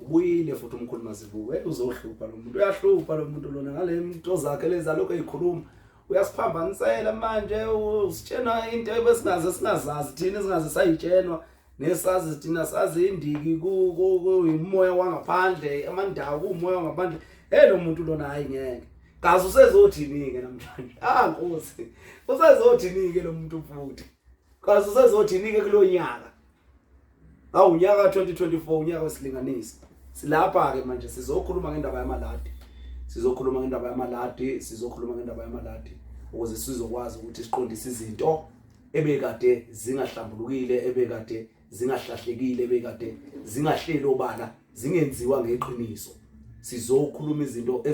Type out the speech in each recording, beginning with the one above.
ubuyile futhi umkhulu mazibuko hey uzohlupha lo muntu uyahlupha lo muntu lona ngale mnto zakhe leza lokho eyikhuluma uyasiphambanisela manje usitshena into ebesingaze singazazi thina singaze sayitshenwa nesazi thina sazi indiki kuyimumoya wangaphandle amandawo kuwumoya wangaphandle hey lo muntu lona hayi ngeke kazi usezothini-ke namhlanje ah nkosi usezothini-ke lo muntu futhi kazi usezothini-ke kulo nyaka Awu unyaka 2024 unyaka wesilinganisi. Silapha ke manje sizokhuluma ngendaba yamaladi. Sizokhuluma ngendaba yamaladi, sizokhuluma ngendaba yamaladi ukuze sizokwazi ukuthi siqondise izinto ebekade zingahlambulukile, ebekade zingahlahlekile, ebekade zingahleli obala, zingenziwa ngeqiniso. Sizokhuluma izinto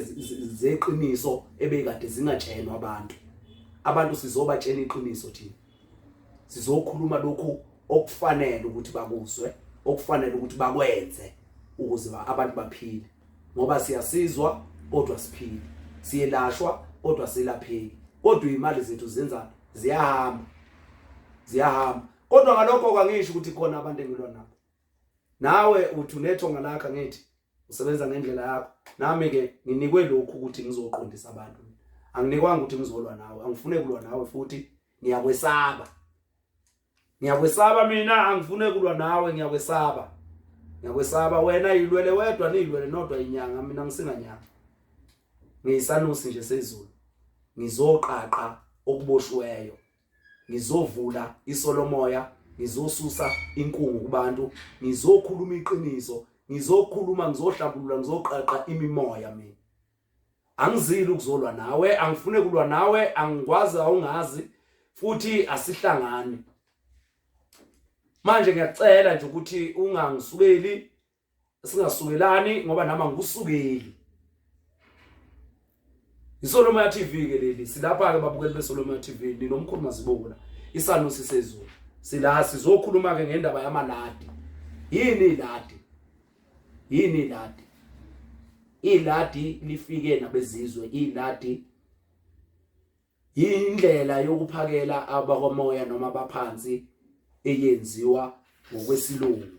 zeqiniso ebekade zingatshelwa abantu. Abantu sizobatshela iqiniso thina. sizokhuluma lokhu okufanele ukuthi bakuzwe okufanele ukuthi bakwenze ukuze abantu baphile ngoba siyasizwa kodwa siphile siyelashwa kodwa silapheki kodwa imali zethu zenza ziyahamba ziyahamba kodwa ngalokho kangisho ukuthi khona abantu engilwa nabo nawe uthi unethonga lakho ngithi usebenza ngendlela yakho nami ke nginikwe lokhu ukuthi ngizoqondisa abantu anginikwanga ukuthi ngizolwa nawe angifune kulwa nawe futhi ngiyakwesaba ngiyakwesaba mina angifune kulwa nawe ngiyakwesaba ngiyakwesaba wena yilwele wedwa niyilwele nodwa inyanga mina ngisinganyanga ngiyisanusi nje sezulu ngizoqaqa okuboshiweyo ngizovula isolomoya ngizosusa inkungu kubantu ngizokhuluma iqiniso ngizokhuluma ngizohlabulula ngizoqaqa imimoya mina angizili ukuzolwa nawe angifune kulwa nawe angikwazi awungazi futhi asihlangani manje ngiyacela nje ukuthi ungangisukeli singasukelani ngoba nama ngusukeli iSolomon TV ke leli silapha ke babukeli beSolomon TV ninomkhulu mazibona isano sisezulu sila sizokhuluma ke ngendaba yamaladi yini iladi yini iladi iladi lifike nabezizwe iladi indlela yokuphakela abakomoya noma abaphansi eyenziwa ngokwesilungu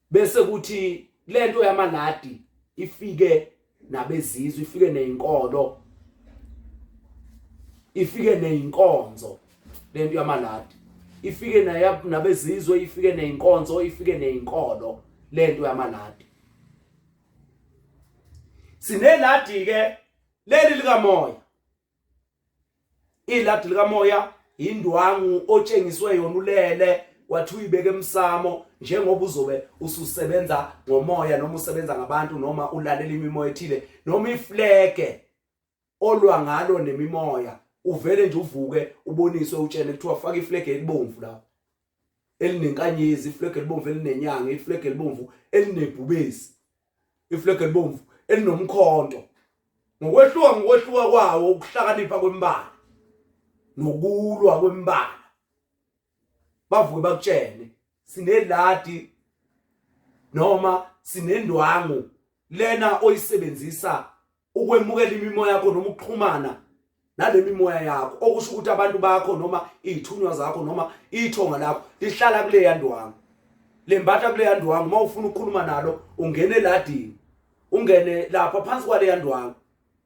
bese kuthi lento yamaladi ifike nabezizwe ifike nezinkolo ifike nezinkonzo lento yamaladi ifike nabezizwe ifike nezinkonzo ifike nezinkolo lento yamaladi sineladi ke leli likamoya iladi likamoya indwangu otshengiswe yona ulele wathi uyibeke emsamo njengoba uzobe ususebenza ngomoya noma usebenza ngabantu noma ulalela imimoya ethile noma iflege olwa ngalo nemimoya uvele nje uvuke uboniswe utshene kuthiwa faka iflege elibomvu lapho elinenkanyezi iflag elibomvu elinenyanga iflag elibomvu elinebhubesi iflag elibomvu elinomkhonto ngokwehluka ngokwehluka kwawo ukuhlakanipha kwembala nokulwa kwembala bavuke bakutshene sineladi noma sinendwangu lena oyisebenzisa ukwemukela imimoya yakho noma ukuxhumana nale mimoya yakho okusho ukuthi abantu bakho noma iy'thunywa zakho noma ithonga lakho lihlala kuleya ndwangu lembatha kuleya ndwangu uma ufuna ukukhuluma nalo ungene eladini ungene lapha phansi kwaleya ndwangu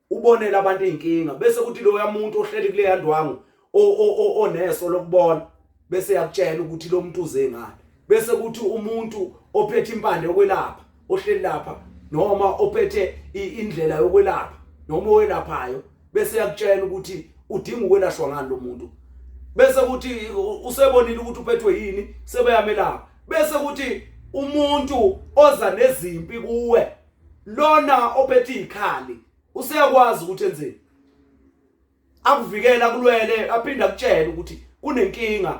ubonele abantu iy'nkinga bese kuthi loya muntu ohleli kuleya ndwangu oneso lokubona bese yakutshela ukuthi lo muntu uze ngani bese kuthi umuntu ophethe impande yokwelapha ohleli lapha noma ophethe indlela yokwelapha noma owelaphayo bese yakutshela ukuthi udinga ukwelashwa ngani lo muntu bese kuthi usebonile ukuthi uphethwe yini sebeyamelapha bese kuthi umuntu oza nezimpi kuwe lona ophethe ikhali useyakwazi ukuthi enzeni akuvikela kulwele aphinde akutshele ukuthi kunenkinga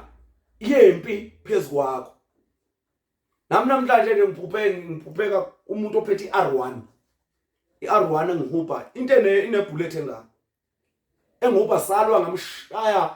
yempi phezukwakho nami namhlanje nje ngiphuphe ngiphupheka umuntu ophethe iR1 iR1 engihubha into ene inebullet engaka engoba salwa ngamshaya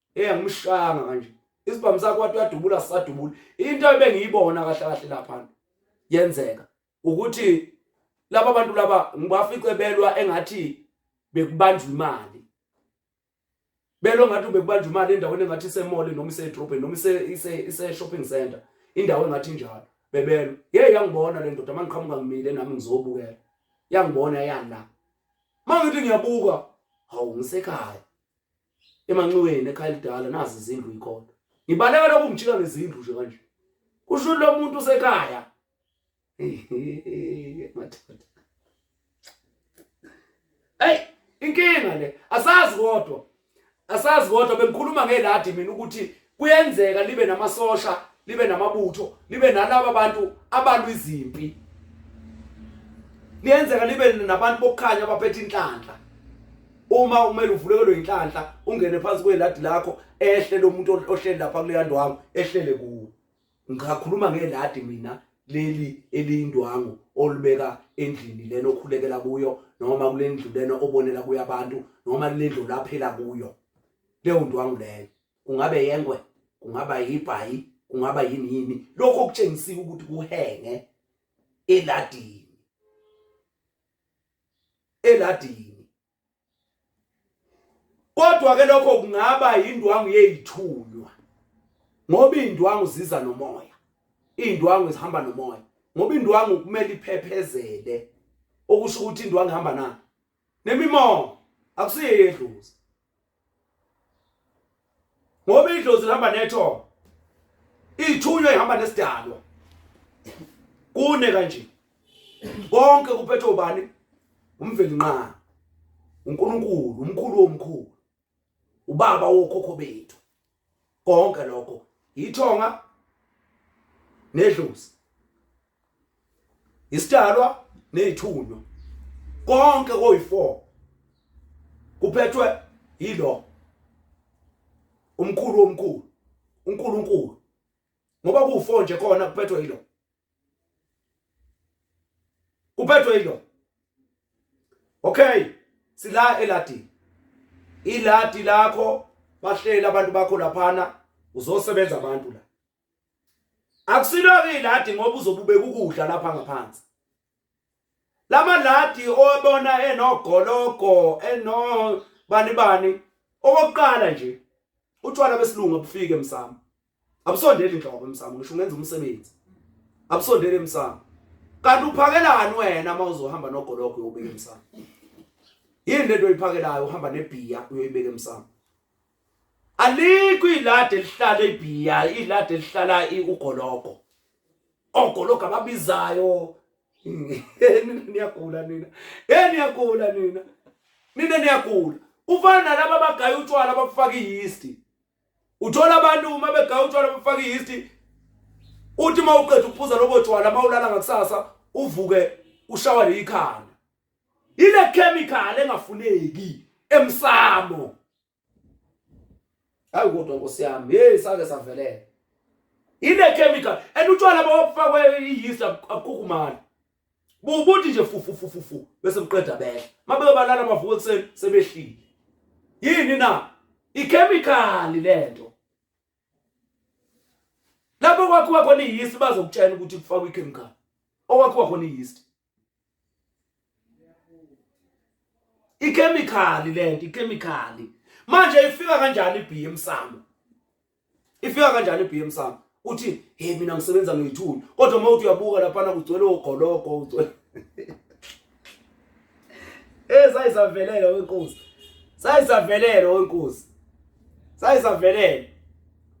hey angimshanga kanje isibhamu sakho wathi uyadubula sisadubula into ebengiyibona kahle kahle lapha yenzeka ukuthi laba bantu laba ngibafice belwa engathi bekubanjwa imali belo ngathi ubekubanjwa imali endaweni engathi isemole noma isedrobheni noma ise-shopping center indawo engathi njalo bebelo ye yangibona le ndoda uma ngiqhamuka ngimile nami ngizobukela yangibona yana uma ngithi ngiyabuka hawu ngisekhaya emanxiweni ekhaya elidala nazi izindlu ikhona ngibaleka lokhu ngijika ngezindlu nje kanje kusho lo muntu usekhaya madoda hey inkinga le asazi kodwa asazi kodwa bengikhuluma ngeladi mina ukuthi kuyenzeka libe namasosha libe namabutho libe nalabo bantu abalwa izimpi liyenzeka libe nabantu bokukhanya abaphethe inhlanhla uma umele uvulekelwe inhlanhla ungene phansi kweladi lakho ehle lo muntu ohleli lapha kuleya ndwangu ehlele kuwo ngikhuluma ngeladi mina leli eliyindwangu olibeka endlini lena okhulekela kuyo noma kulendlu lena obonela kuyo abantu noma kulendlu laphela kuyo leyo ndwangu leyo kungabe yengwe kungaba yibhayi kungaba yini yini lokho kutshengisiwe ukuthi kuhenge eladini eladini kodwa ke lokho kungaba indwangu yezithunywa ngoba indwangu ziza nomoya indwangu zihamba nomoya ngoba indwangu kumele iphephezele okusho ukuthi indwangu ihamba nayo nemimongo akusiye yedlozi ngoba idlozi lihamba nethongo ithunywa ihamba nesidalwa kune kanje konke kuphethe ubani umveli nqa uNkulunkulu umkhulu omkhulu ubaba wokhokho bethu konke lokho yithonga nedlozi isidalwa nezithunywa konke koyi4 kuphethwe yilo umkhulu omkhulu uNkulunkulu ngoba ku4 nje khona kuphethwe yilo uphethwe yilo okay sila eladi iladi lakho bahlela abantu bakho laphana uzosebenza abantu la akusilo ke iladi ngoba uzobubeka ukudla lapha ngaphansi lamaladi owabona enogologo eno bani bani okokuqala nje utshwala besilungu abufike emsamo abusondeli inhlobo emsamo ngisho ungenza umsebenzi abusondeli emsamo kanti uphakelani wena uma uzohamba nogologo uyobeka emsamo yini lento oyiphakelayo uhamba nebhiya uyoyibeka emsamo alikho ilade lihlala ibhiya ilade lihlala ugologo ogologa ababizayo nina niyagula nina hey niyagula nina nina niyagula ufana nalabo abagaya utshwala abafaka i-yeast uthola abantu uma begaya utshwala abafaka i-yeast uthi uma uqeda ukuphuza lobo tshwala uma ulala ngakusasa uvuke ushawa leyikhanda ile chemical engafuneki emsamo hayi kodwa nkosi yami hey sake savelela ine chemical and utshwala bawafakwe iyisi akukhumana bubuthi nje fufu fufu fufu bese buqeda behla mabe balala bavuka ekuseni sebehlile yini na ichemical lento lapho kwakhiwa khona iyisi bazokutshela ukuthi kufakwa ichemical okwakhiwa khona iyisi ikhemikhali lento ikhemikhali manje ifika kanjani iBM sami ifika kanjani iBM sami uthi hey mina ngisebenza ngeyithuli kodwa uma uthi uyabuka lapha na kugcwele ogologo ugcwele Eh sayisavelela wenkosi. Sayisavelela wenkosi. Sayisavelela.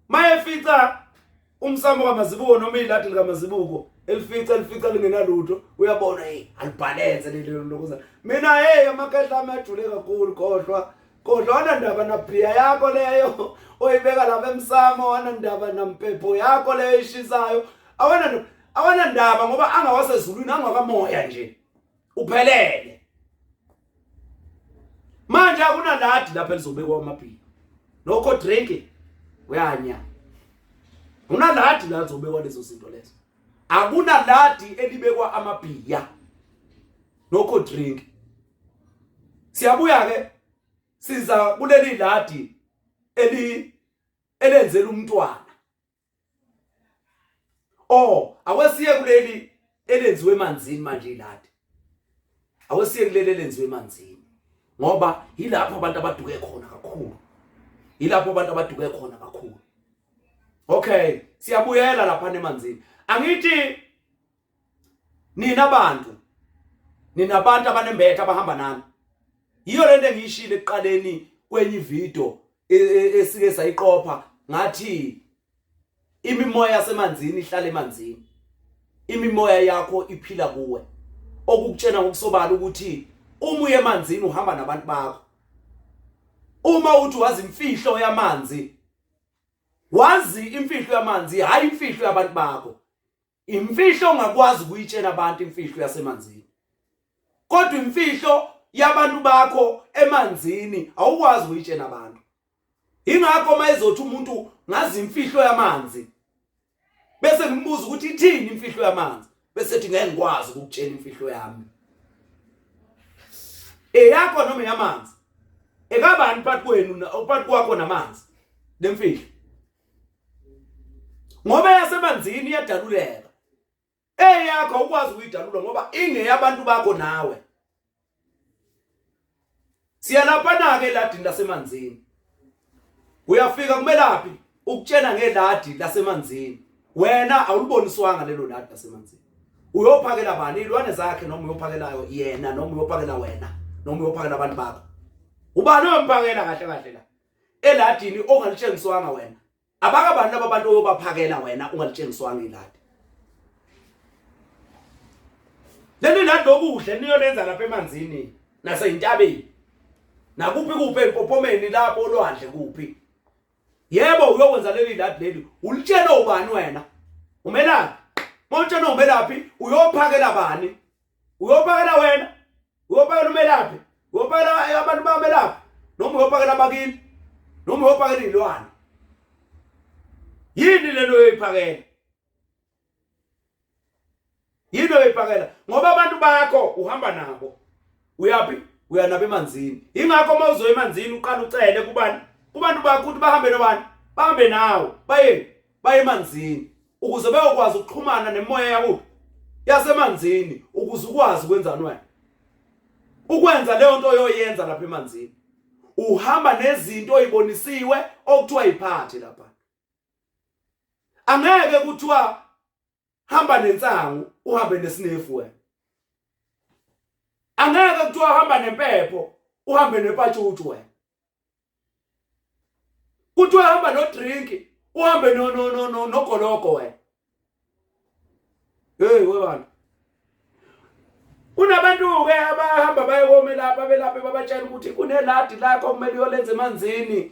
Mayefica umsamo kamazibuko noma iladi likamazibuko elifica elifica lingenalutho uyabona hey alibhalenze lelo lokuza mina hey amakhehla ami ajule kakhulu kodwa kodwa wanandaba nabhiya yakho leyo oyibeka lapha emsamo wanandaba nampepho yakho leyo ishisayo awana awanandaba ngoba angawasezulwini angakamoya nje uphelele manje akunaladi lapha elizobekwa amabhili nokho drinking uyanya unaladi la zobekwa lezo zinto lezo akunaladi elibekwa amabhiya nokho drink siyabuya ke siza kuleli ladi eli elenzela umntwana oh awesiye kuleli elenziwe emanzini manje iladi awesiye kuleli elenziwe emanzini ngoba yilapho abantu abaduke khona kakhulu yilapho abantu abaduke khona kakhulu okay siyabuyela lapha emanzini angithi nina bantu nina abantu abanembethe abahamba nani yiyo lento engiyishile ekuqaleni kwenye ivideo e, e, esike sayiqopha ngathi imimoya yasemanzini ihlala emanzini imimoya yakho iphila kuwe okukutshena ngokusobala ukuthi uma uye emanzini uhamba nabantu bakho uma uthi wazi imfihlo yamanzi wazi imfihlo yamanzi hayi imfihlo yabantu bakho imfihlo ongakwazi ukuyitshela abantu imfihlo yasemanzini kodwa imfihlo yabantu bakho emanzini awukwazi ukuyitshela abantu ingakho uma ezothi umuntu ngazi imfihlo yamanzi bese ngimbuza ukuthi ithini imfihlo yamanzi bese ethi ngeke ngikwazi ukukutshela imfihlo yami eyakho noma yamanzi ekabani phakathi kwenu phakathi kwakho namanzi lemfihlo ngoba yasemanzini iyadaluleka eyakho ukwazi ukuyidalula ngoba ingeyabantu bakho nawe siyalapana ke ladini lasemanzini uyafika kumelaphi ukutshena ngeladi lasemanzini wena awuliboniswanga lelo ladi lasemanzini uyophakela bani ilwane zakhe noma uyophakelayo yena noma uyophakela wena noma uyophakela abantu bakho ubani omphakela kahle kahle la eladini ongalitshengiswanga wena abaka bantu laba bantu oyobaphakela wena ungalitshengiswanga iladi leli ladi lokudla niyolenza lapha emanzini naseyintabeni nakuphi kuphi empophomeni lapho olwandle kuphi yebo uyokwenza leli ladi leli ulitshela ubani wena umelaphi motshela umelaphi uyophakela bani uyopakela wena uyopakela umelaphi uyopakela abantu bamelaphi noma uyopakela abakini noma uyopakela izilwane yini lento uyoyiphakela yini oyoyiphakela ngoba abantu bakho uhamba nabo uyaphi uya nabo emanzini ingakho uma uzoya emanzini uqala ucele kubani kubantu bakho ukuthi bahambe nobani bahambe nawo bayeni baye emanzini ukuze bayokwazi ukuxhumana nemoya yakubo yasemanzini ukuze ukwazi ukwenzani wena ukwenza leyo nto oyoyenza lapha emanzini uhamba nezinto oyibonisiwe okuthiwa iphathi lapha angeke kuthiwa hamba nensangu uhambe nesinefu wena angeke kuthiwa hamba nempepho uhambe nepatshutshu wena kuthiwa hamba nodrinki uhambe no no no no nogologo wena hey webantu kunabantu ke abahamba bayekomela lapha belaphe babatshela ukuthi kuneladi lakho kumele uyolenza emanzini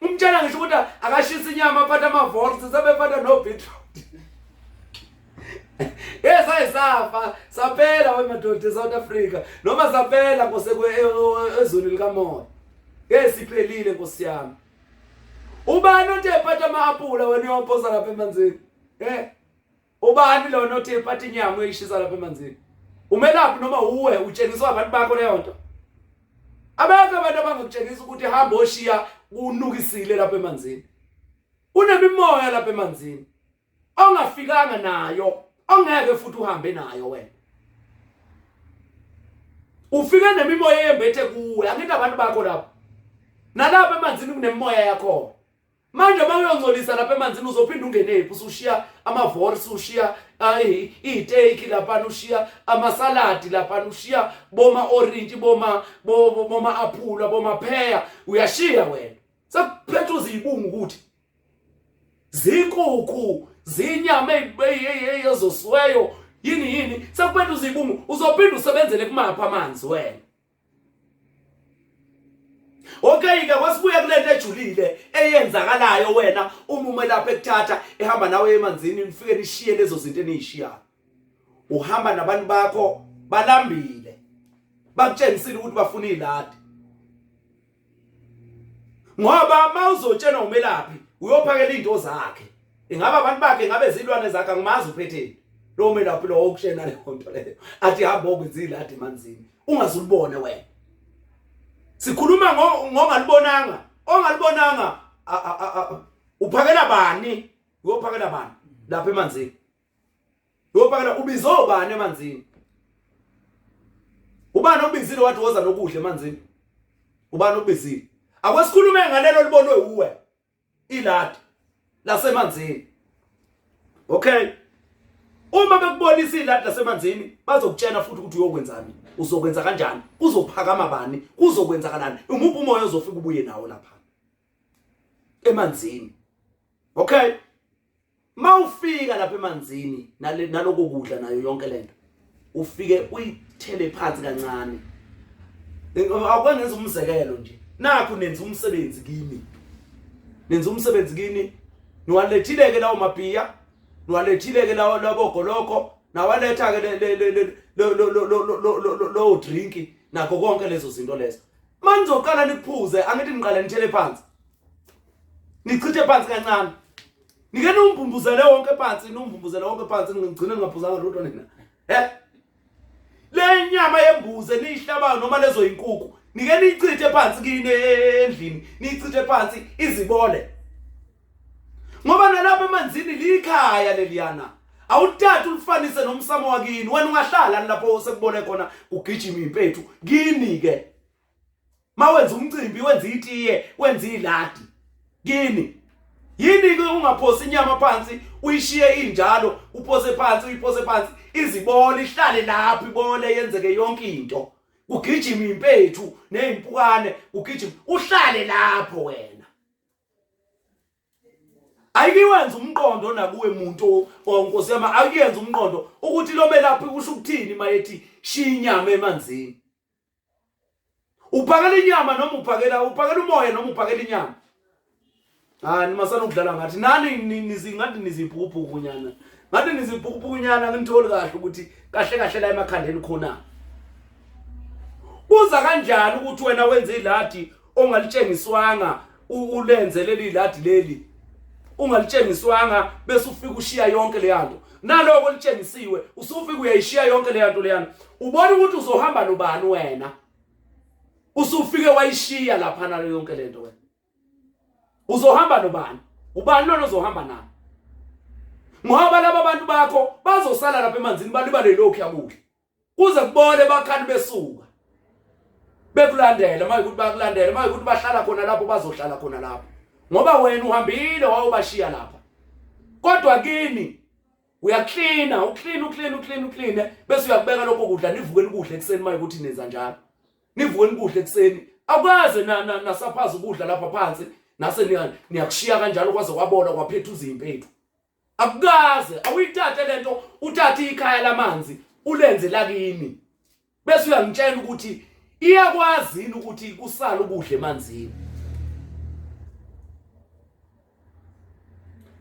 umtshela ngisho ukuthi akashisa inyama aphathe amavorsi sebephatha nobeetroot yes ayisafa saphela wemadoda eSouth Africa noma saphela nkosekwe e, e, ezweni likamoya esiphelile nkosi yami ubani othe phatha ama-apula wena uyophosa lapha emanzini eh ubani lona othi ephatha inyama uyishisa lapha emanzini umelaphi noma uwe utshengiswa abantu bakho leyo nto abekho abantu abangakutshengisa ukuthi hamba oshiya unukisile lapha emanzini unemimoya lapha emanzini ongafikanga nayo ongeke futhi uhambe nayo wena ufike nemimoya eyembethe kuwe angithi abantu bakho lapho nalapha emanzini kunemimoya yakho manje uma uyongcolisa lapha emanzini uzophinde ungenephi usushiya amavors ushiya iy'teyiki laphana ushiya amasaladi laphana ushiya boma-orintshi boma-aphula bomapheya uyashiya wena sekuphetha uziyibungu ukuthi zinkukhu zinyama ezosiweyo yini yini sekuphetha uziyibungu uzophinde usebenzele kumaphi amanzi wena Okay ke kwasibuya kulento ejulile eyenzakalayo wena uma umelapha ekuthatha ehamba nawe emanzini nifike nishiye lezo zinto enizishiyayo uhamba nabantu bakho balambile bakutshengisile ukuthi bafuna iladi ngoba mawuzotshenwa umelaphi uyophakela izinto zakhe ingaba abantu bakhe ngabe zilwane zakhe angimazi uphetheni lo melaphi lo okutshena le nto leyo athi hamba okwenzile athi manzini ungazulibone wena sikhuluma ngongalibonanga ongalibonanga uphakela bani uyophakela bani lapha emanzini Yobakala ubize obani emanzini? Ubani obizile wathi woza nokudla emanzini? Ubani obizile? Akwesikhulume ngalelo libonwe uwe. Iladi lasemanzini. Okay. Uma bekubonisa iladi lasemanzini bazokutshena futhi ukuthi uyokwenzani. Uzokwenza kanjani? Kuzophakama bani? Kuzokwenzakalani? Umuphi umoya ozofika ubuye nawo lapha? Emanzini. Okay. mawufika lapha emanzini naloko kudla nayo yonke lento ufike uyithele phansi kancane akwengenza umzekelo nje nakho nenza umsebenzi kimi nenza umsebenzi kini niwalethileke lawo mabhiya niwalethileke lawo labogoloko nawaletha-ke lowo drinki nakho konke lezo zinto lezo uma nizoqala niphuze angithi niqale nithele phansi nichithe phansi kancane nike niwumbumbuzele wonke phansi niwumbumbuzele wonke phansi ngigcine ngingaphuzanga lutho nina he le nyama yembuze niyihlabayo noma lezo yinkuku nike niyichithe phansi kini endlini niyichithe phansi izibole ngoba nalapha emanzini likhaya leliyana awuthathe ulifanise nomsamo wakini wena ungahlala lapho sekubone khona kugijima impethu kini ke mawenza umcimbi wenza itiye wenza iladi kini yini ke ungaphosi inyama phansi uyishiye injalo uphose phansi uyiphose phansi izibole ihlale lapho ibole yenzeke yonke into kugijima impethu nezimpukane kugijima uhlale lapho wena ayikiwenza umqondo nakuwe muntu onkosi yama ayiyenza umqondo ukuthi lo melaphi kusho ukuthini mayethi shiya inyama emanzini uphakela inyama noma uphakela uphakela umoya noma uphakela inyama hayi nima sanokudlala ngathi nani ngathi nizibhukubhuku nyana ngathi nizibhukubhuku nyana ngitholi kahle ukuthi kahle kahle la emakhandeni khona kuza kanjani ukuthi wena wenze iladi ongalitshengiswanga ulenze leli ladi leli ungalitshengiswanga bese ufika ushiya yonke le yanto naloko olitshengisiwe usufika uyayishiya yonke le yanto leyana ubona ukuthi uzohamba nobani wena usufike wayishiya lapha nalo yonke lento wena uzohamba nobani ubani lona ozohamba naye ngoba laba bantu bakho bazosala lapha emanzini balibale lokhu yakudla kuze kubole bakhani besuka bekulandela uma ukuthi bakulandela uma ukuthi bahlala khona lapho bazohlala khona lapho ngoba wena uhambile wawubashiya lapha kodwa kini uyaklina uklina uklina uklina uklina bese uyakubeka lokho kudla nivuke nikudla ekuseni uma ukuthi nenza njalo nivuke nikudla ekuseni akwaze na nasaphaza ukudla lapha phansi nase niyakushiya kanjalo kwaze kwabola kwaphetha uzimpethu akukaze awuyithathe lento uthathe ikhaya lamanzi ulenze lakini bese uyangitshela ukuthi iyakwazi yini ukuthi kusala ukudla emanzini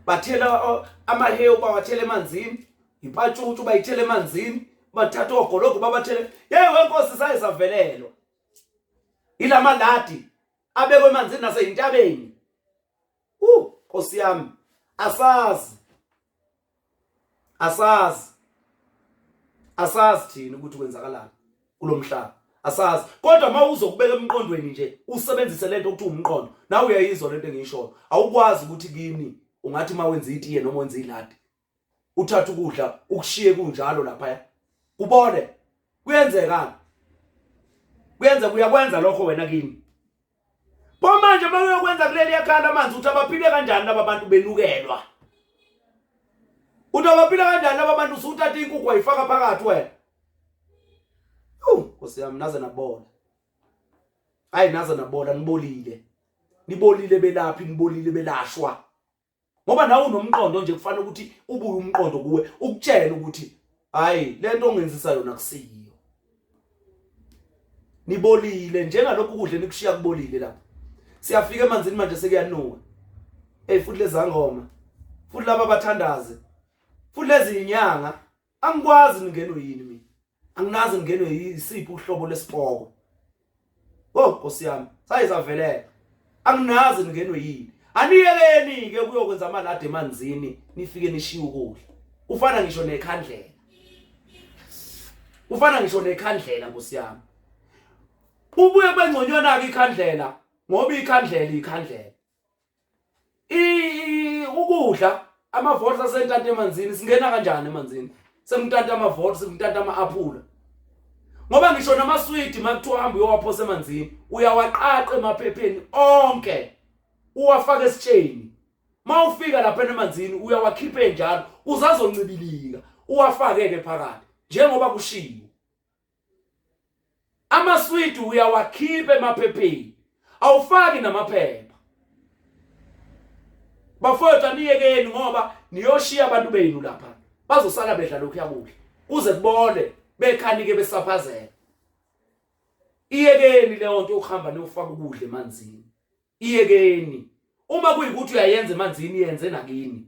bathela amahewu bawathela emanzini ipatshutshu bayithela emanzini bathatha ogologo babathele yeyi wenkosi saye savelelwa ilamaladi abekwe emanzini naseyintabeni uh Nkosi yami asazi asazi asazi thina ukuthi kwenzakalani kulomhlaba asazi kodwa uma uzokubeka emqondweni nje usebenzise lento ukuthi umqondo nawe uyayizwa lento engiyishoyo awukwazi ukuthi kimi ungathi uma wenza itiye noma wenza iladi uthathe ukudla ukushiye kunjalo lapha kubone kuyenzekani kuyenza kuyakwenza lokho wena kimi pho manje uma uyokwenza kuleli yakhala amanzi ukuthi abaphile kanjani laba bantu benukelwa uthi abaphile kanjani laba bantu usuthatha inkukhu wayifaka phakathi wena nkosi yami naze nabola hayi naze nabola nibolile nibolile belaphi nibolile belashwa ngoba nawe unomqondo nje kufanele ukuthi ubuye umqondo kuwe ukutshele ukuthi hayi lento ongenzisa yona kusiyiyo nibolile njengalokhu kudle nikushiya kubolile lapho siyafika emanzini manje sekuyanuka hey futhi lezangoma futhi laba bathandaze futhi lezi inyanga angikwazi ningenwe yini mina anginazi ningenwe yisiphi uhlobo lesipoko oh nkosi yami sayizavelela anginazi ningenwe yini aniyeleni ke kuyokwenza amalade emanzini nifike nishiye ukudla ufana ngisho nekhandlela ufana ngisho nekhandlela nkosi yami ubuye bengconywana ke ikhandlela ngoba ikhandlela ikhandlela i ukudla amavote asentanta emanzini singena kanjani emanzini sengitanta amavote sengitanta ama-aphula ngoba ngisho namaswidi makuthiwa hambe uyowaphosa emanzini uyawaqaqa emaphepheni onke uwafake esitsheni mawufika lapha emanzini uyawakhipha enjalo uzazoncibilika uwafake ke phakathi njengoba kushiwo amaswidi uyawakhipha emaphepheni awufaki namaphepha bafowethu aniyekeni ngoba niyoshiya abantu benu lapha bazosala bedla lokhu yakuhle kuze kubole bekhanike besaphazela iyekeni leyo nto yokuhamba niyofaka ukudla emanzini iyekeni uma kuyikuthi uyayenza emanzini yenze nakini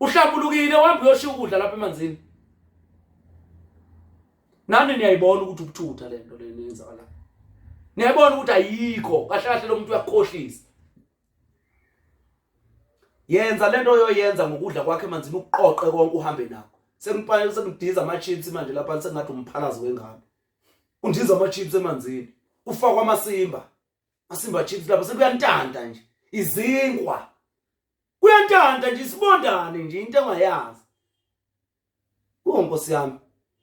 uhlambulukile uhamba uyoshiya ukudla lapha emanzini nani niyayibona ukuthi ubuthutha le nto lena yenzakalayo niyayibona ukuthi ayikho kahle kahle lo muntu uyakukhohlisa yenza lento oyoyenza ngokudla kwakhe emanzini ukuqoqe konke uhambe nakho sekumpane sekudiza ama chips manje lapha sengathi umphalazi wengane undiza ama chips emanzini ufakwa amasimba masimba chips lapha sekuyantanda nje izinkwa kuyantanta nje isibondane nje into engayazi wo nkosi yami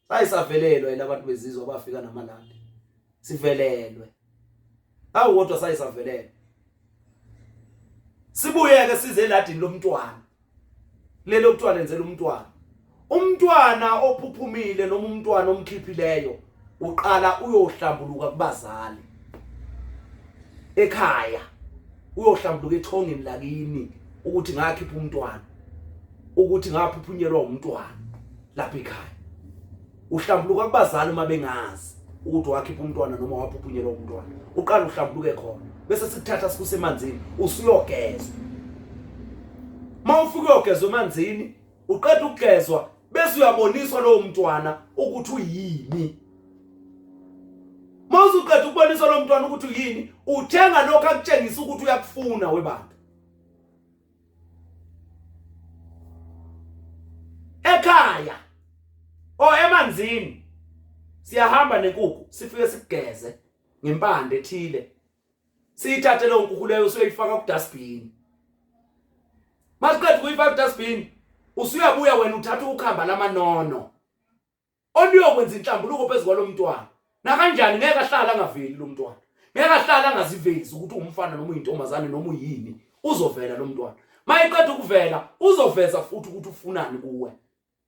sayisavelelwa ilabantu bezizwe abafika namalandi sivelelwe awu kodwa sayisavelelwe sibuyeke size eladini lomntwana lelo kuthiwa lenzela umntwana umntwana ophuphumile noma umntwana omkhiphileyo uqala uyohlambuluka kubazali ekhaya uyohlambuluka ethongeni lakini ukuthi ngakhipha umntwana ukuthi ngaphuphunyelwa umntwana lapha ekhaya uhlambuluka kubazali uma bengazi ukuthi wakhipha umntwana noma waphuphunyelwa umntwana uqala uhlambuluke khona bese sikuthatha sikuse emanzini usuyogezwa mawufike uyogezwa emanzini uqeda ukugezwa bese uyaboniswa lowo mntwana ukuthi uyini mawuze uqeda ukuboniswa lowo mntwana ukuthi uyini uthenga lokho akutshengisa ukuthi uyakufuna webantu ekhaya o emanzini siyahamba nenkukhu sifike sigeze ngempande ethile siyithathe leyo nkukhu leyo usuyoyifaka kudustbin masiqeda ukuyifaka kudustbin usuyabuya wena uthatha ukhamba lamanono oluyokwenza inhlambuluko phezu kwalo mntwana nakanjani ngeke ahlala angaveli lo mntwana ngeke ahlala angazivezi ukuthi umfana noma uyintombazane noma uyini uzovela lo mntwana mayeqeda ukuvela uzoveza futhi ukuthi ufunani kuwe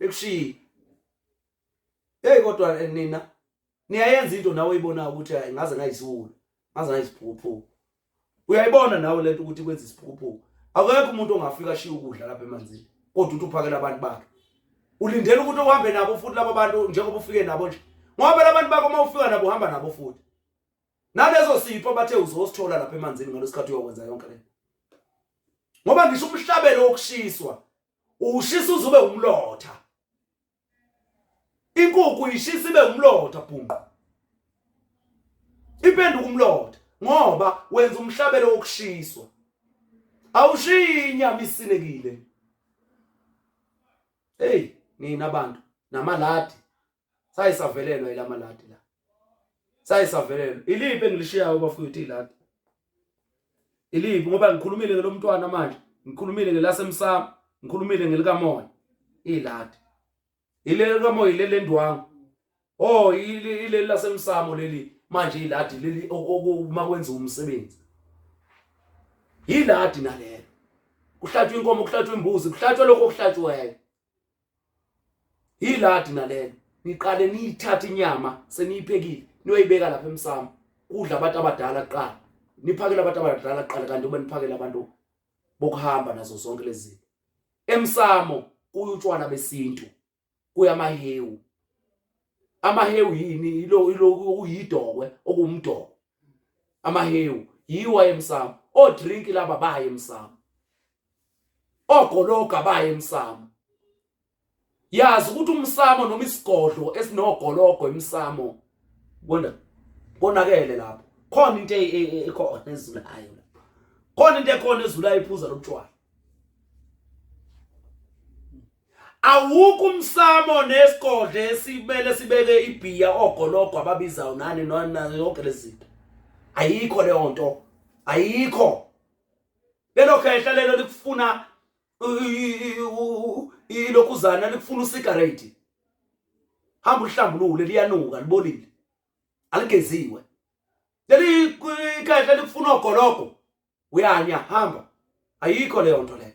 ekushiyi hey kodwa eh, nina niyayenza into nawe oyibona ukuthi hayi ngaze ngayisiwula ngaze ngayisiphuphu uyayibona nawe lento ukuthi kwenza isiphuphu akekho umuntu ongafika shiya ukudla lapha emanzini kodwa uthi uphakela abantu bakhe ulindele ukuthi uhambe nabo futhi labo bantu njengoba ufike nabo nje ngoba labantu bakho uma ufika nabo uhamba nabo futhi nalezo sipho bathe uzosithola lapha emanzini ngalesikhathi uyokwenza yonke le ngoba ngisho umhlabelo wokushiswa ushisa uzube umlotha inkukhu ishisa ibe umlotha bhunqo ipenduka umlotha ngoba wenza umhlabelo wokushiswa awushiyi inyama isinekile hey nina abantu namaladi saye savelelwa ilamalati la saye savelelwa iliphi engilishiyayo bafowethu ilati iliphi ngoba ngikhulumile ngelomntwana manje ngikhulumile ngelasemsamo ngikhulumile ngelikamoya ilati ilelo likamoya ilele ndwangu oh ileli lasemsamo leli manje iladi leli uma kwenza umsebenzi yiladi nalelo kuhlatshwa inkomo kuhlatshwa imbuzi kuhlatshwa lokho okuhlatshwayo yiladi nalelo niqale niyithathe inyama seniyiphekile niyoyibeka lapha emsamo kudla abantu abadala kuqala niphakela abantu abadala kuqala kanti uma niphakela abantu bokuhamba nazo zonke lezi emsamo kuyutshwala besintu kuyamahewu amahewu yini ilo ilo uyidokwe okumdoko amahewu yiwa emsamo o drink laba baye emsamo ogologa baye emsamo yazi ukuthi umsamo noma isigodlo esinogologo emsamo bona konakele lapho khona into e- e- e- ekhona ezulayo lapho khona into ekhona ezulayo iphuza lobutshwala awukho umsamo nesigodlo esimele sibeke ibhiya ogologo ababizayo nani nona yonke lezinto ayikho leyo nto ayikho lelo khehla lelo likufuna ilokhuzana likufuna usigareti hamba uhlambulule liyanuka libolile aligeziwe leli khehla likufuna ogologo uyanya hamba ayikho leyo nto leyo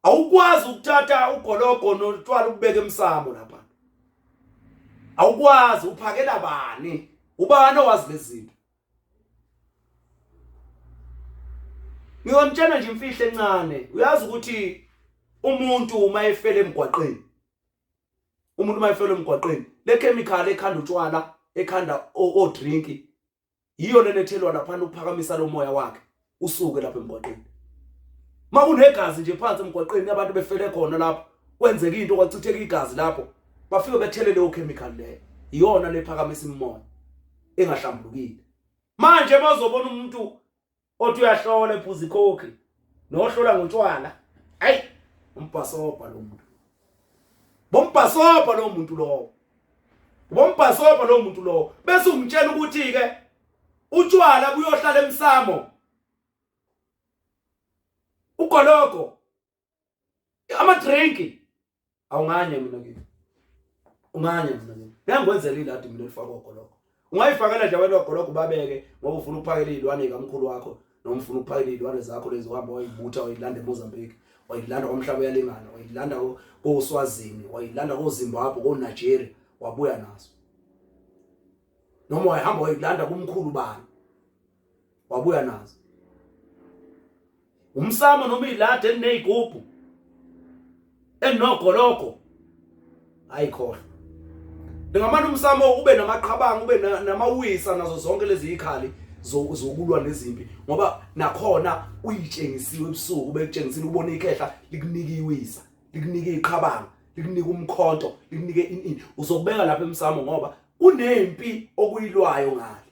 awukwazi ukuthatha ugologo notshwala ukubeka emsamo lapha awukwazi uphakela bani ubani owazi lezinto ngiyomtshela nje imfihlo encane uyazi ukuthi umuntu uma efele emgwaqeni umuntu uma efele emgwaqeni le chemical ekhanda utshwala ekhanda o drink yiyo lena ethelwa laphana ukuphakamisa lo moya wakhe usuke lapha emgwaqeni makunegazi nje phansi emgwaqeni abantu befele khona lapho kwenzeka into kwachitheka igazi lapho bafike bethele leyo chemical leyo iyona lephakamisa imimoya engahlambulukile manje bazobona umuntu othi uyahlola ephuza ikhokhi nohlola ngotshwala ayi umbhasobha lo muntu bombhasobha lo muntu lowo bombhasobha lo muntu lowo bese umtshela ukuthi ke utshwala buyohlala emsamo ugologo ama drink awunganye mina kimi unganye mina kimi ngiyangwenzela iladi mina elifaka ogoloko ungayifakela nje wena ogoloko babeke ngoba ufuna ukuphakela izilwane kamkhulu wakho noma ufuna ukuphakela izilwane zakho lezi uhamba wayibutha wayilanda eMozambique wayilanda komhlaba uyalingana wayilanda koSwazini wayilanda koZimbabwe koNigeria wabuya nazo noma wayihamba wayilanda kumkhulu bani wabuya nazo umsamo noma ilade elinezigubhu elinogologo ayikhohle ngamane umsamo ube namaqhabanga ube namawisa nazo zonke lezi ikhali zokulwa nezimpi ngoba nakhona uyitshengisiwe ebusuku bekutshengisile ubona ikhehla likunika iwisa likunika iqhabanga likunika umkhonto likunike ini uzokubeka lapha emsamo ngoba kunempi okuyilwayo ngale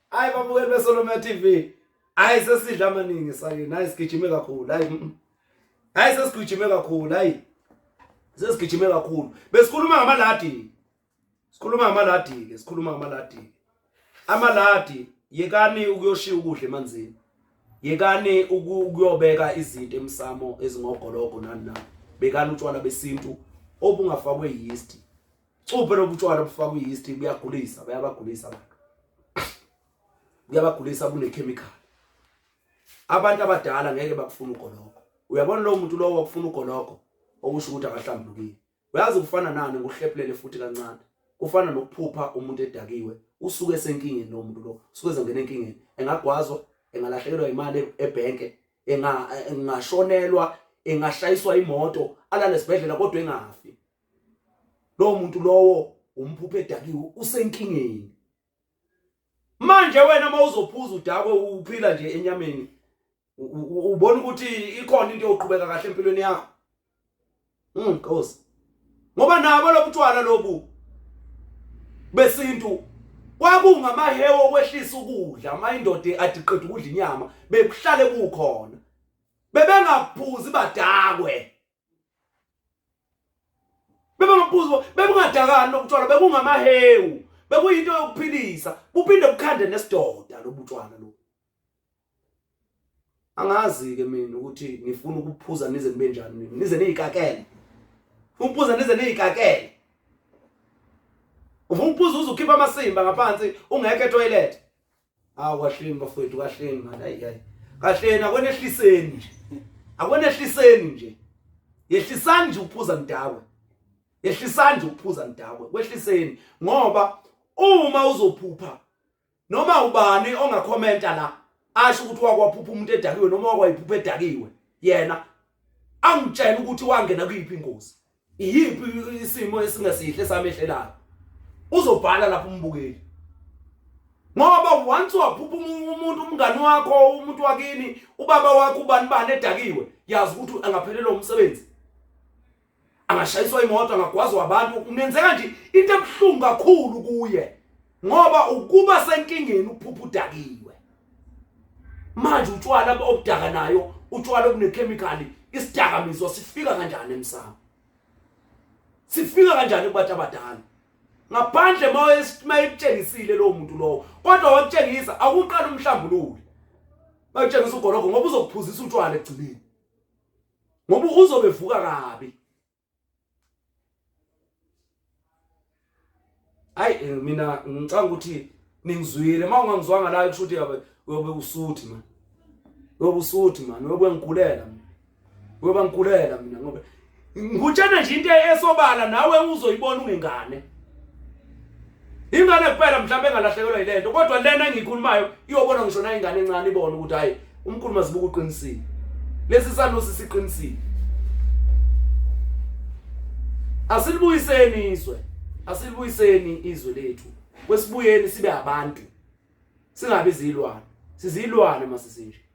Hayi babukeli beSolomia TV. Hayi sesidla amaningi sake. Hayi sigijime kakhulu. Hayi. Mm, mm. Hayi sesigijime kakhulu. Hayi. Sesigijime kakhulu. Besikhuluma ngamaladi. Sikhuluma ngamaladi ke, sikhuluma ngamaladi. Amaladi yekani ukuyoshiya ukudla emanzini. Yekani ukuyobeka izinto emsamo ezingogologo nani na. Bekani utshwala besintu obungafakwe yeast. Cuphe lobutshwala obufakwa i-yeast buyagulisa, bayabagulisa abantu. Buyabagulisa bunechemical. Abantu abadala ngeke bakufuna ugologo. Uyabona lo muntu lowo wakufuna ugologo okusho ukuthi akahlambulukile. Uyazi kufana nani ngokuhlephulele futhi kancane. Kufana nokuphupha umuntu edakiwe, usuke esenkingeni lo muntu lo, usuke ezongena enkingeni. Engagwazwa, engalahlekelwa imali ebhenke, engashonelwa, engashayiswa imoto, alale esibhedlela kodwa engafi. lowo muntu lowo umphuphe edakiwe usenkingeni manje wena uma uzophuza udakwe uphila nje enyameni ubona ukuthi ikhona into yoqhubeka kahle empilweni yakho mm nkosi ngoba nabo lobutshwala lobu besintu kwakungamahewe okwehlisa ukudla uma indoda adiqeda ukudla inyama bekuhlale kukhona bebengaphuzi badakwe bebengabuzo bekungadakani lokutshwala bekungamahewu bekuyinto yokuphilisa kuphinde kukhande nesidoda lobutshwala lo angazi ke mina ukuthi ngifuna ukuphuza nize nibe njani mina nize niyikakele ukuphuza nize niyikakele ufuna ukuphuza uze ukhipha amasimba ngaphansi ungekho etoilet awu kahleni bafowethu kahleni mani ayi ayi kahleni akonehliseni nje akonehliseni nje yehlisani nje ukuphuza nidakwe yehlisani nje ukuphuza nidakwe kwehliseni ngoba uma uzophupha noma ubani ongakhomenta la asho ukuthi wakwaphupha umuntu edakiwe noma wakwayiphupha edakiwe yena angitshela ukuthi wangena kuyiphi ingozi iyiphi isimo esingesihle samehlelayo uzobhala lapho umbukeli ngoba once waphupha umuntu umngani wakho umuntu wakini ubaba wakho ubani bani edakiwe yazi ukuthi angaphelelwa umsebenzi angashayiswa imoto angagwazwa abantu kungenzeka nje into ebuhlungu kakhulu kuye ngoba ukuba senkingeni ukuphupha udakiwe manje utshwala obudaka nayo utshwala obunekhemikhali isidakamizwa sifika kanjani emsamo sifika kanjani kubantu abadala ngaphandle mayekutshengisile lowo muntu lowo kodwa wakutshengisa akuqala umhlambulule bakutshengisa ugologo ngoba uzokuphuzisa utshwala ekugcineni ngoba uzobevuka kabi hayi eh, mina ngicanga ukuthi ningizwile uma ungangizwanga la kusho ukuthi yabe uyobe usuthi mani uyobe usuthi mani uyobe ngigulela mina uyobe ngigulela mina ngoba ngutshena nje into esobala nawe uzoyibona ungengane ingane kuphela mhlawumbe engalahlekelwa yile nto kodwa lena engiyikhulumayo iyobona ngisho na ingane encane ibone ukuthi hhayi umkhulu mazibuka uqinisile lesi sanusi siqinisile asilibuyiseni izwe asilibuyiseni izwe lethu kwesibuyeni sibe abantu singabi zilwane sizilwane masisinje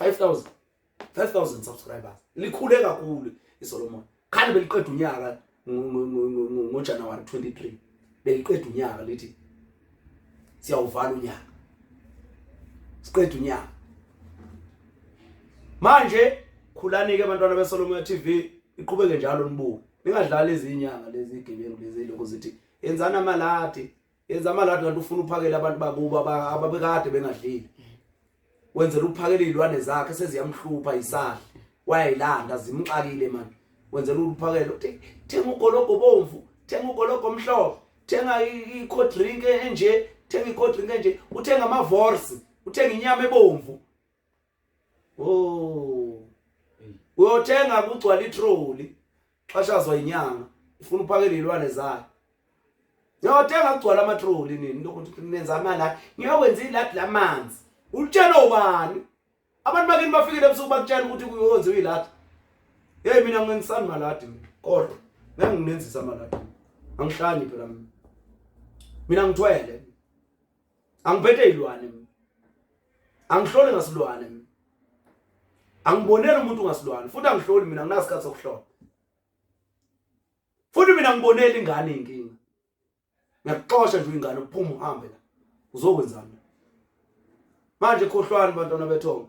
5000 5000 subscribers likhule kakhulu iSolomon khani beliqeda unyaka ngoJanuary 23 beliqeda unyaka lithi siyawuvala unyaka siqeda unyaka manje khulani ke abantwana beSolomon TV iqhubeke njalo nibuke ningadlali izinyanga lezi igebengu lezi lokho zithi yenzani amalati yenza amaladi kanti ufuna uphakele abantu bakubo ababekade bengadlile wenzela ukuphakela izilwane zakhe seziyamhlupha isahle wayayilanda zimxakile manje wenzela ukuphakela uthi thenga ugologo bomvu thenga ugologo omhlophe thenga i-cold drink enje thenga i-cold drink enje uthenga ama-vorse uthenga inyama ebomvu Oh. Uyothenga kugcwala itroli. Xashazwa inyanga. Ufuna uphakele ilwane zayo. Uyothenga kugcwala amatroli nini into ukuthi nenza imali la. Ngiyokwenza iladi lamanzi. Ulitshela ubani? Abantu bakini bafikile ebusuku bakutshela ukuthi kuyowenziwa iladi. Hey mina ngengisani maladi kodwa ngeke nginenzisa maladi. Angihlani phela mina. Mina ngithwele. angiphethe izilwane mina angihloli ngasilwane mina angiboneli umuntu ngasilwane futhi angihloli mina nginasikhathi sokuhlola futhi mina ngibonela ingane inkinga ngiyakuxosha nje ingane uphuma uhambe la uzokwenzani manje khohlwani bantwana bethongo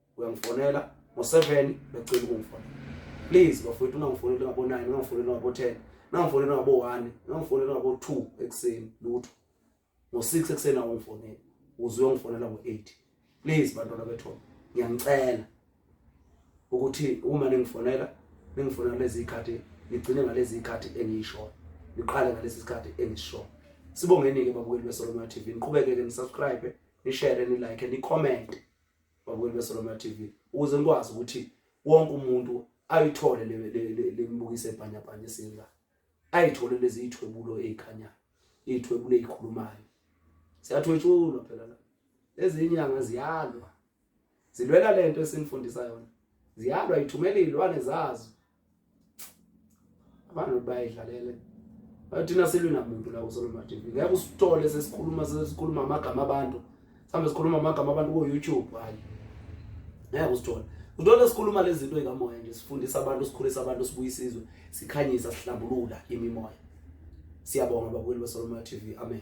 uyangifonela ngo-7 becela ukungifonela please bafowethu ungangifoneli ngabo-9 ungangifoneli ngabo-10 ungangifoneli ngabo-1 ungangifoneli ngabo-2 ekuseni lutho ngo-6 ekuseni awungifoneli uze uyongifonela ngo-8 please bantwana bethona ngiyanicela ukuthi uma ningifonela ningifonela lezi zikhathi nigcine ngalezi zikhathi engiyishoyo niqale ngalesi sikhathi engisishoyo sibongeni-ke babukeli besolomona tv niqhubeke-ke nisubscribe nishare nilike nicommente babukeli beSolomon TV ukuze nikwazi ukuthi wonke umuntu ayithole lemibukiso ebhanyabhanya esinga ayithole lezi ithwebulo ezikhanyayo ithwebulo ezikhulumayo siyathwetshulwa phela la ezinyanga ziyalwa zilwela lento esinifundisa yona ziyalwa ithumela izilwane zazo abantu bayidlalele thina silwi namuntu la kusolomon tv ngeke usithole sesikhuluma sesikhuluma amagama abantu sihambe sikhuluma amagama abantu ku-youtube hayi ngeke usithole uthola sikhuluma lezi zinto ey'kamoya nje sifundisa abantu sikhulisa abantu sibuye isizwe sikhanyisa sihlambulula imimoya siyabonga babukeli besolomon tv amen